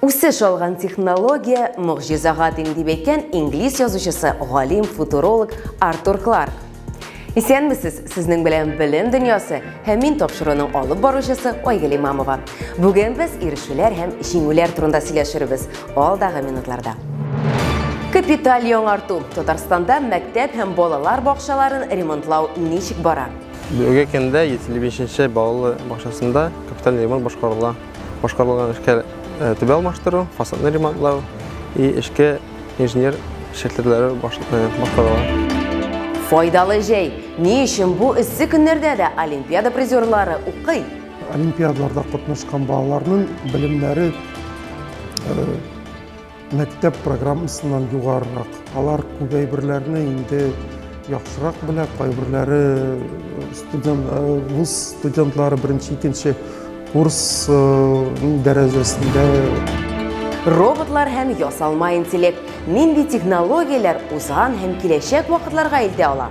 Үсеш алган технология могҗизага тиң дип әйткән инглиз язучысы, галим, футуролог Артур Кларк. Исәнмесез, сезнең белән Белем дөньясы һәм мин тапшыруның алып баручысы Айгөл Имамова. Бүген без ирешүләр һәм җиңүләр турында сөйләшербез алдагы минутларда. Капиталь яңарту Татарстанда мәктәп һәм балалар бакчаларын ремонтлау ничек бара? Бүгенге көндә 75 нче балалы бакчасында капиталь ремонт башкарыла. Башкарылган эшкә түбә алмаштыру, фасадны ремонтлау и эшкә инженер шәкертләре башкарыла. Файдалы җәй. Ни өчен бу эссе көннәрдә дә олимпиада призерлары укый? Олимпиадаларда катнашкан балаларның белемнәре Мәктәп программасыннан югарырак. Алар күп әйберләрне инде яхшырак белә, кайберләре э, студент, э, вуз студентлары беренче, икенче курс э, дәрәҗәсендә. Роботлар һәм ясалма интеллект нинди технологияләр узган һәм киләчәк вакытларга илтә ала?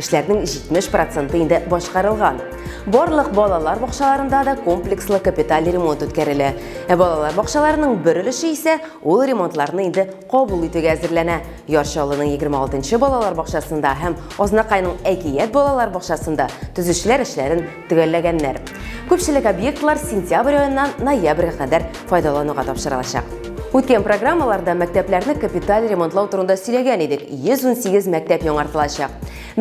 Эшләрнең 70 проценты инде башкарылган. Барлык балалар бакчаларында да комплекслы капиталь ремонт үткәрелә. Ә балалар бакчаларының бер өлеше исә ул ремонтларны инде кабул итүгә әзерләнә. Ярчалының 26 нчы балалар бакчасында һәм Азнакайның Әкият балалар бакчасында төзүчеләр эшләрен төгәлләгәннәр. Күпчелек объектлар сентябрь аеннан ноябрьгә кадәр файдалануга тапшырылачак. Үткән программаларда мәктәпләрне капиталь ремонтлау турында сөйләгән идек, 118 мәктәп яңартылачак.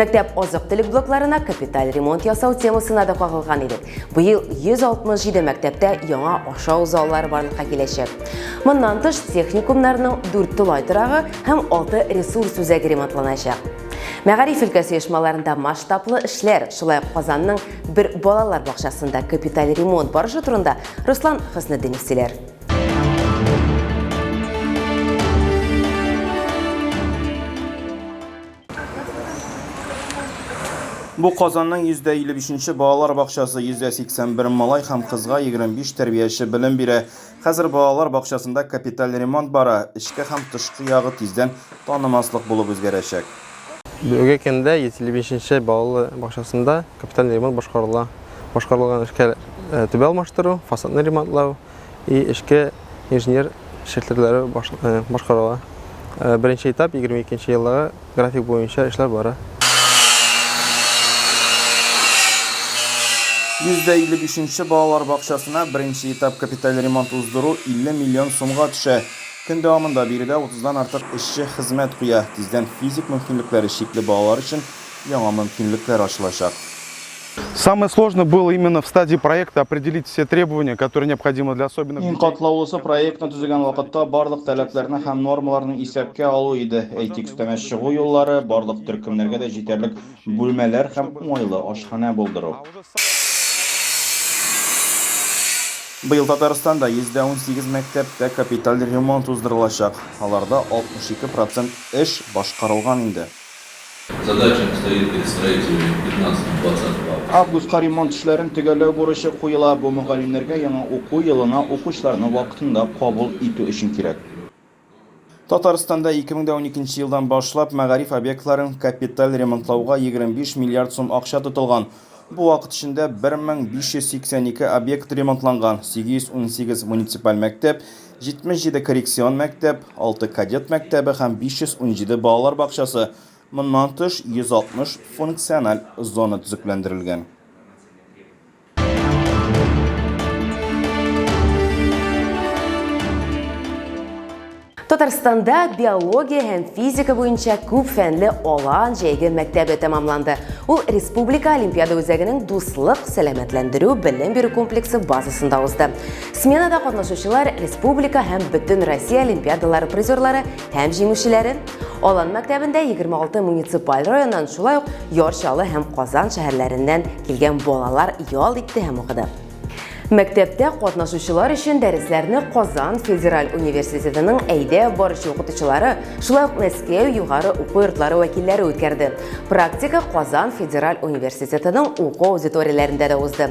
Мәктәп азык-төлек блокларына капиталь ремонт ясау темасына да кагылган идек. Быел 167 мәктәптә яңа ашау заллары барлыкка киләчәк. Моннан тыш техникумнарның 4 тулай торагы һәм 6 ресурс үзәге ремонтланачак. Мәгариф өлкәсе оешмаларында масштаблы эшләр, шулай ук Казанның бер балалар бакчасында капиталь ремонт барышы турында Руслан Хөснетдинов сөйләр. Бу Казанның 155 нче балалар бакчасы, 181 малай һәм кызга 25 тәрбияче белем бирә. Хәзер балалар бакчасында капиталь ремонт бара, эчке һәм тышкы ягы тиздән танымаслык булып үзгәрәчәк. Бүгенге көндә 155 нче балалы бакчасында капиталь ремонт башкарыла. Башкарылган эшләр, түбә алмаштыру, фасадны ремонтлау и эчке инженер челтәрләре башкарыла. Беренче этап 22 нче елларга График буенча эшләр бара. 155 нче балалар бакчасына беренче этап капиталь ремонт уздыру 50 миллион сумга төшә. Көн дәвамында биредә 30 дан артык эшче хезмәт куя. Тиздән физик мөмкинлекләре чикле балалар өчен яңа мөмкинлекләр ачылачак. Самое сложное было именно в стадии проекта определить все требования, которые необходимы для особенных. Иң катлаулысы проектны төзегән вакытта барлык таләпләрне һәм нормаларны исәпкә алу иде. Әйтик, өстәмә чыгу юллары, барлык төркемнәргә дә җитәрлек бүлмәләр һәм уңайлы ашханә булдыру. Быел Татарстанда 118 мәктәптә капиталь ремонт уздырылачак. Аларда 62 процент эш башкарылган инде. Задачам стоит перед строителями в пятнадцатом, двадцатом августе. Августка ремонт эшләрен төгәлләү бурычы куела. Бу мөгаллимнәргә яңа уку елына укучыларны вакытында кабул итү өчен кирәк. Татарстанда 2012 елдан башлап мәгариф объектларын капиталь ремонтлауга 25 миллиард сум акча тотылган. Бу вакыт эчендә 1582 объект ремонтланган, 818 муниципаль мәктәп, 77 коррекцион мәктәп, 6 кадет мәктәбе һәм 517 балалар бакчасы, моннан тыш 160 функциональ зона төзекләндерелгән. Татарстанда биология һәм физика буенча күп фәнле Алан җәйге мәктәбе тәмамланды. Ул Республика Олимпиада үзәгенең Дуслык, сәламәтләндерү, белем бирү комплексы базасында узды. Сменада катнашучылар республика һәм бөтен Россия олимпиадалары призерлары һәм җиңүчеләре. Алан мәктәбендә 26 муниципаль районнан шулай ук Яр Чаллы һәм Казан шәһәрләреннән килгән балалар ял итте һәм укыды. Мәктәптә катнашучылар өчен дәресләрне Казан федераль университетының әйдә баручы укытучылары, шулай ук Мәскәү югары уку йортлары вәкилләре үткәрде. Практика Казан федераль университетының уку аудиторияләрендә дә узды.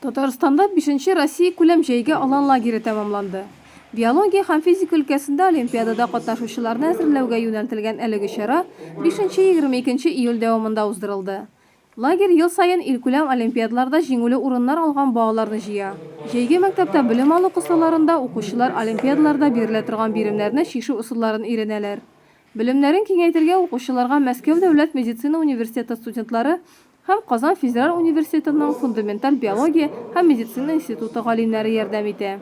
Татарстанда бишенче Россиякүләм җәйге алан лагере тәмамланды. Биология һәм физика өлкәсендә олимпиадада катнашучыларны әзерләүгә юнәлтелгән әлеге чара бишенче-егерме икенче июль дәвамында уздырылды. Лагерь ел саен илкүләм олимпиадаларда җиңүле урыннар алган балаларны җыя. Җәйге мәктәптә белем алу кысаларында укучылар олимпиадаларда бирелә торган биремнәрне чишү ысулларын өйрәнәләр, Белемнәрен киңәйтергә укучыларга Мәскәү дәүләт медицина университеты студентлары һәм Казан федераль университетының фундаменталь биология һәм медицина институты галимнәре ярдәм итә.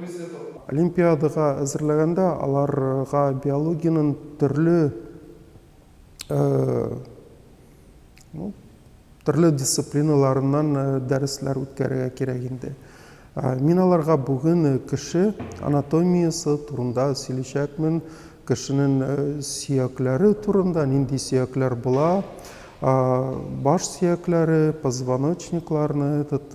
Олимпиадага әзерләгәндә аларга биологиянең төрле Ну, төрле дисциплиналарыннан э, дәресләр үткәрергә кирәк инде. Э, мин аларга бүген э, кеше анатомиясе турында сөйләшәкмен, кешенең сөякләре турында, нинди сөякләр була, баш сөякләре, позвоночникларны, этот,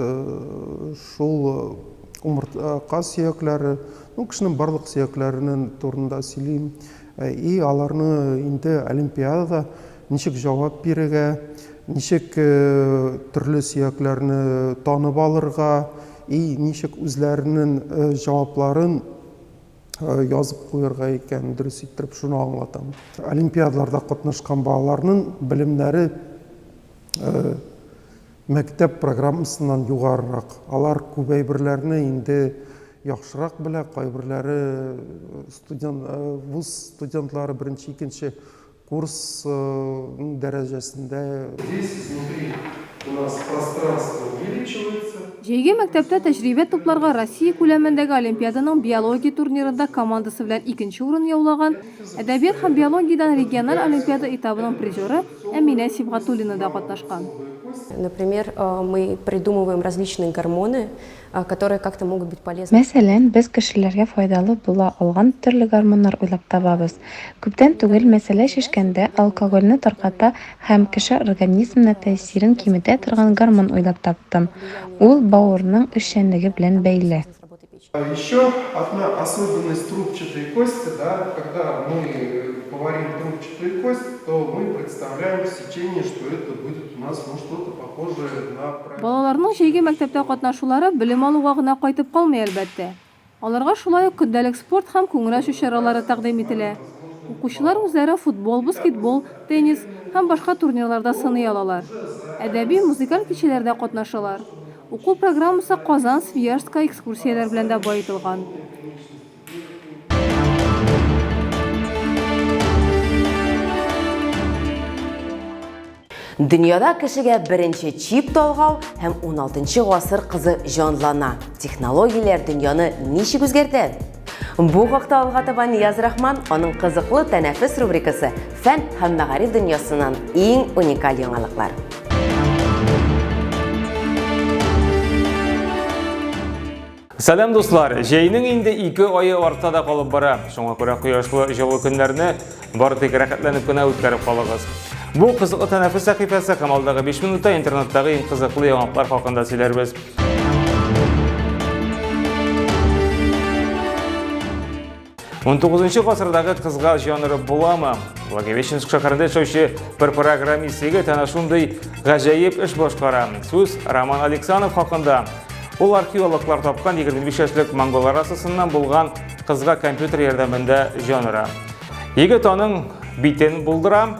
шул умыртка сөякләре, ну, кешенең барлык сөякләренең турында сөйлим. И аларны инде олимпиадада Ничек җавап бирергә, ничек төрле сөякләрне танып алырга и ничек үзләренең җавапларын язып куерга икән, дөрес иттереп шуны аңлатам. Олимпиадаларда катнашкан балаларның белемнәре мәктәп программасыннан югарырак. Алар күп әйберләрне инде яхшырак белә, кайберләре студент, вуз студентлары беренче, икенче Курс ның дәрәҗәсендә. Здесь изнутри у нас пространство увеличивается. Җәйге мәктәптә тәҗрибә тупларга Россия күләмендәге олимпиаданың биология турнирында командасы белән икенче урын яулаган, әдәбият һәм биологиядән региональ олимпиада этабының призеры Әминә Сибгатуллина да катнашкан. Например, мы придумываем различные гормоны, которые как-то могут быть полезны. Мәсәлән, без кешеләргә файдалы була алган төрле гормоннар уйлап табабыз. Күптән түгел мәсьәлә шешкәндә алкогольне тарката һәм кеше организмына тәэсирен киметә торган гормон уйлап таптым. Ул бавырның эшчәнлеге белән бәйле. Еще одна особенность трубчатой кости, да, когда мы говорим трубчатую кость, то мы представляем сечение, что это будет у нас ну что-то похожее на. Балаларның җәйге мәктәптә катнашулары белем алуга гына кайтып калмый, әлбәттә. Аларга шулай ук көндәлек спорт һәм күңел-ачу чаралары тәкъдим ителә. Укучылар үзләрен футбол, баскетбол, теннис һәм башка турнирларда сыный алалар. Әдәби, музыкаль кичәләрдә катнашалар. Уку программасы Казан, Свияжскка экскурсияләр белән дә баетылган. Дөньяда кешегә беренче чип талгау һәм 16 гасыр кызы җанлана. Технологияләр дөньяны ничек үзгәртә? Бу хакта алга таба Нияз Рахман аның кызыклы тәнәфес рубрикасы Фән һәм мәгариф дөньясыннан иң уникаль яңалыклар. Сәлам дуслар! Җәйнең инде ике айы артта да калып бара. Шуңа күрә кояшлы җылы көннәрне бары тик рәхәтләнеп кенә үткәреп калыгыз. Бу кызыклы тәнәфес сәхифәсе һәм алдагы 5 минутта интернеттагы иң кызыклы яңалыклар хакында сөйләрбез. 19 гасырдагы кызга жанры буламы? Благовещенск шәһәрендә яшәүче бер программист егет әнә шундый гаҗәеп эш башкара. Сүз Роман Алексанов хакында. Ул археологлар тапкан 25 яшьлек монголар расасыннан булган кызга компьютер ярдәмендә җан Егет аның битен булдыра,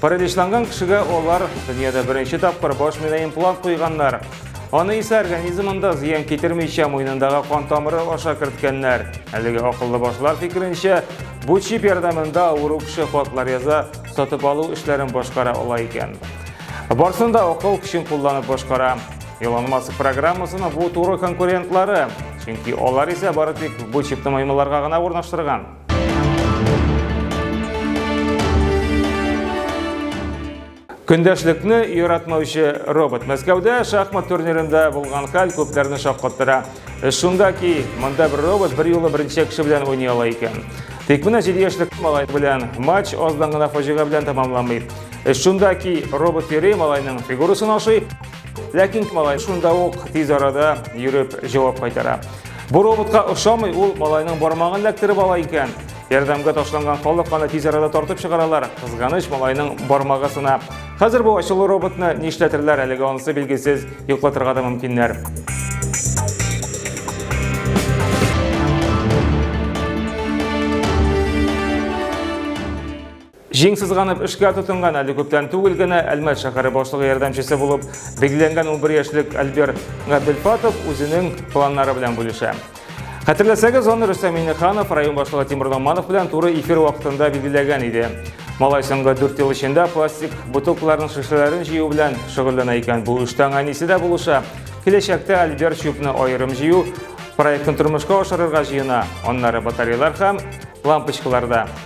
Параличланган кешегә алар дөньяда беренче тапкыр баш миенә имплант куйганнар. Аны исә организмында зыян китермичә муенындагы кан тамыры аша керткәннәр. Әлеге акыллы башлар фикеренчә, бу чип ярдәмендә авыру кеше хатлар яза, сатып алу эшләрен башкара ала икән. Барсын да акыл көчен кулланып башкара. Илон Маск программасының бу туры конкурентлары, чөнки алар исә бары тик бу чипны маймылларга гына урнаштырган. Көндәшлекне яратмаучы робот Мәскәүдә шахмат турнирында булган хәл күпләрне шаккаттыра. Э, шунда ки, монда бер робот бер юлы беренче кеше белән уйный ала икән. Тик менә 7 яшьлек малай белән матч аздан гына фаҗига белән тәмамламый. Э, шунда ки, робот йөри малайның фигурасын ашый, Ләкин малай шунда ук тиз арада йөреп җавап кайтара. Бу роботка ошамый ул малайның бармагын эләктереп ала икән. Ярдәмгә ташланган халык аны тиз арада тартып чыгаралар. Кызганыч малайның бармагы сына. Хәзер бу ачулы роботны нишләтерләр әлегә анысы билгесез, йоклатырга да мөмкиннәр. Җиң сызганып эшкә тотынган әле күптән түгел генә Әлмәт шәһәре башлыгы ярдәмчесе булып билгеләнгән унбер яшьлек Альберт Габделфатов үзенең планнары белән бүлешә. Хәтерләсәгез, аны Рөстәм Миннеханов район башлыгы Тимур Номанов белән туры эфир вакытында билгеләгән иде. Малай соңгы дүрт ел эчендә пластик бутылкаларның шешәләрен җыю белән шөгыльләнә икән. Бу эштә аңа әнисе дә булыша. Киләчәктә Альберт чүпне аерым җыю проектын тормышка ашырырга җыена. Аннары батареялар һәм лампочкаларда.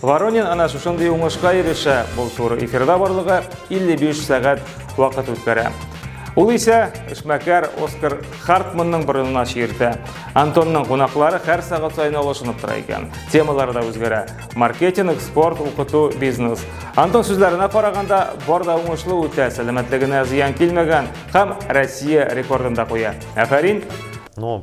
Воронин әнә шушындый уңышка ирешә, бу туры эфирда барлыгы 55 сәгать вакыт үткәрә. Ул исә эшмәкәр Оскар Хартманның борынына чиертә. Антонның кунаклары һәр сәгать саен алышынып тора икән. Темалар да үзгәрә. Маркетинг, спорт, укыту, бизнес. Антон сүзләренә караганда, бар да уңышлы үтә, сәламәтлегенә зыян килмәгән һәм Россия рекордын да куя. Афәрин! Ну,